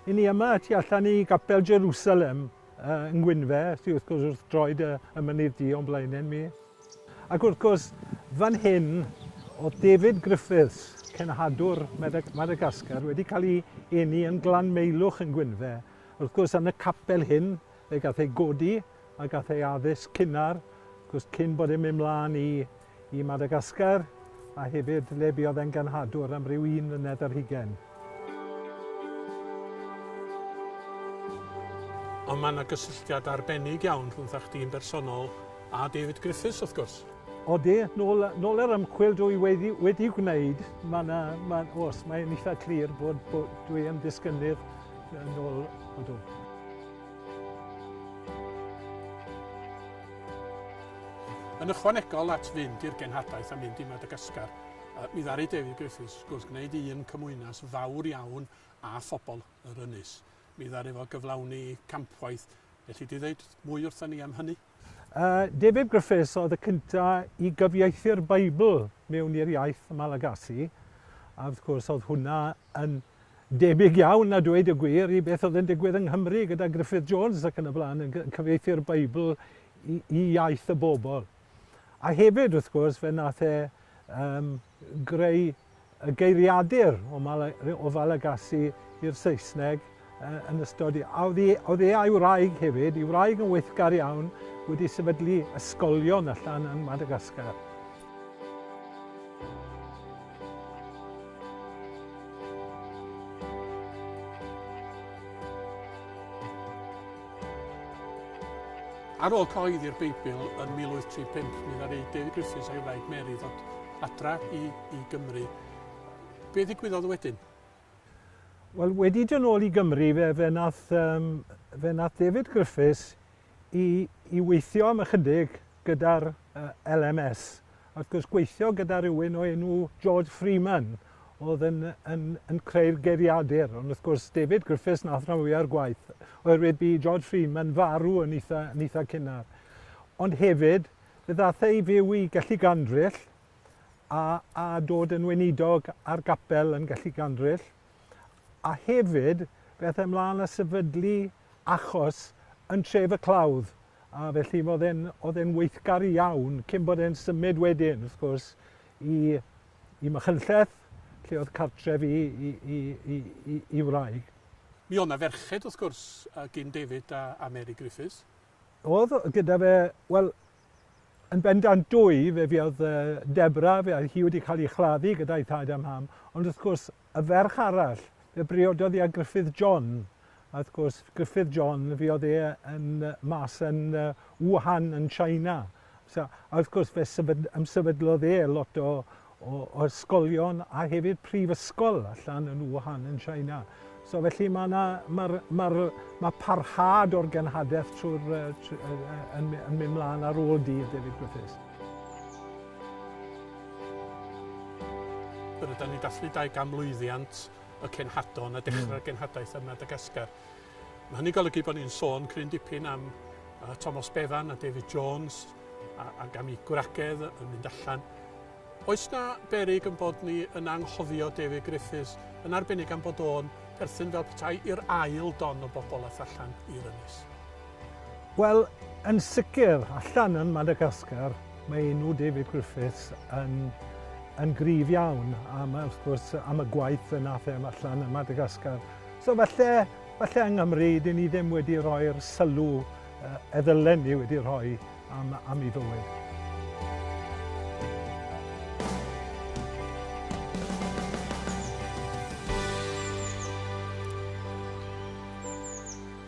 Yn ni yma tu allan i gapel Jerusalem yng Ngwynfe, sydd wrth gwrs wrth droed y, y mynydd di o'n blaenau mi. Ac wrth gwrs, fan hyn, o'dd David Griffiths, cenhadwr Madagascar, wedi cael ei eni yn Glanmeilwch yn Gwynfe. Wrth gwrs, yn y capel hyn, fe gath ei godi a gath ei addysg cynnar, wrth gwrs, cyn bod e'n mynd mlaen i i Madagascar, a hefyd le buodd e'n genhadwr am ryw un mlynedd ar hugain. Ond mae 'na gysylltiad arbennig iawn rhwngtha chdi yn bersonol a David Griffiths, wrth gwrs. Odi, nôl, nôl yr ymchwil dwi wedi, wedi gwneud, mae 'na, ma, os mae'n eitha clir bod, bod dwi yn disgynnydd yn ôl, odw. Yn ychwanegol at fynd i'r genhadaeth a mynd i Madagascar, mi ddaru David Griffiths Wrth gwneud un cymwynas fawr iawn â phobl yr ynys, mi ddaru fo gyflawni campwaith. Elli di ddeud mwy wrtha ni am hynny? David Griffiths oedd y cynta i gyfieithu'r Beibl mewn i'r iaith Malagasy, a wrth gwrs oedd hwnna yn debyg iawn, a dweud y gwir, i beth oedd yn digwydd yng Nghymru gyda Gruffydd Jones ac yn y blaen yn cyfieithu'r Beibl i, i iaith y bobl. A hefyd, wrth gwrs, fe nath e um, greu y geiriadur o Mal- o Falegasi i'r Saesneg yn ystod i. A oedd e, oedd e a'i wraig hefyd, ei wraig yn weithgar iawn, wedi sefydlu ysgolion allan yn Madagascar. Ar ôl cyhoeddi'r Beibl yn 1835, mi ddaru David Griffiths a'i wraig Mary ddod adra i, i Gymru. Be ddigwyddodd wedyn? Wel, wedi dod nôl i Gymru, fe, fe, nath, um, fe nath David Griffiths i, i weithio am ychydig gyda'r uh, LMS. Wrth gwrs, gweithio gyda rhywun o enw George Freeman, oedd yn, yn, yn creu'r geiriadur, ond wrth gwrs David Griffiths nath rhan fwya'r gwaith, oherwydd bu George Freeman farw yn eitha, yn eitha cynnar. Ond hefyd, fe ddath ei fyw i Gelli Gandryll a, a dod yn weinidog ar gapel yn Gelli Gandryll, a hefyd fe ath e ymlaen a sefydlu achos yn tref y clawdd, a felly oedd e'n weithgar iawn cyn bod e'n symud wedyn, wrth gwrs, i i Machynlleth, lle oedd cartref i wraig. Mi oedd 'na ferched, wrth gwrs, gin David a Mary Griffiths. Oedd gyda fe, wel, yn bendant dwy, fe fuodd Deborah, fe oedd hi wedi cael ei chladdu gyda'i thad a mam, ond wrth gwrs, Y ferch arall, fe briododd i â Gruffydd John, a wrth gwrs Gruffydd John fe oedd e yn mas yn Wuhan yn China. So, a wrth gwrs fe sefyd, ymsefydlodd e lot o, o, o ysgolion a hefyd prifysgol allan yn Wuhan yn China. So felly mae yna, mae'r, mae'r, mae parhad o'r genhadaeth trwy'r, uh, trwy, uh, yn, yn mynd mlaen ar ôl dydd David Griffiths. Rydan ni'n dathlu dau ganmlwyddiant y cenhadon a dechrau'r mm. genhadaeth ym Madagascar. Mae hynny'n golygu bod ni'n sôn cryn dipyn am uh, Thomas Bevan a David Jones a, a gam i gwragedd yn mynd allan. Oes na berig yn bod ni yn anghofio David Griffiths yn arbennig am bod o'n perthyn fel petai i'r ail don o bobl a allan i'r ynys? Wel, yn sicr, allan yn Madagascar, mae enw David Griffiths yn, yn grif iawn am, wrth gwrs, am y gwaith yna fe allan yn Madagascar. So falle, falle yng Nghymru, dyn ni ddim wedi rhoi'r sylw uh, e ddylen ni wedi rhoi am, am ei fywyd.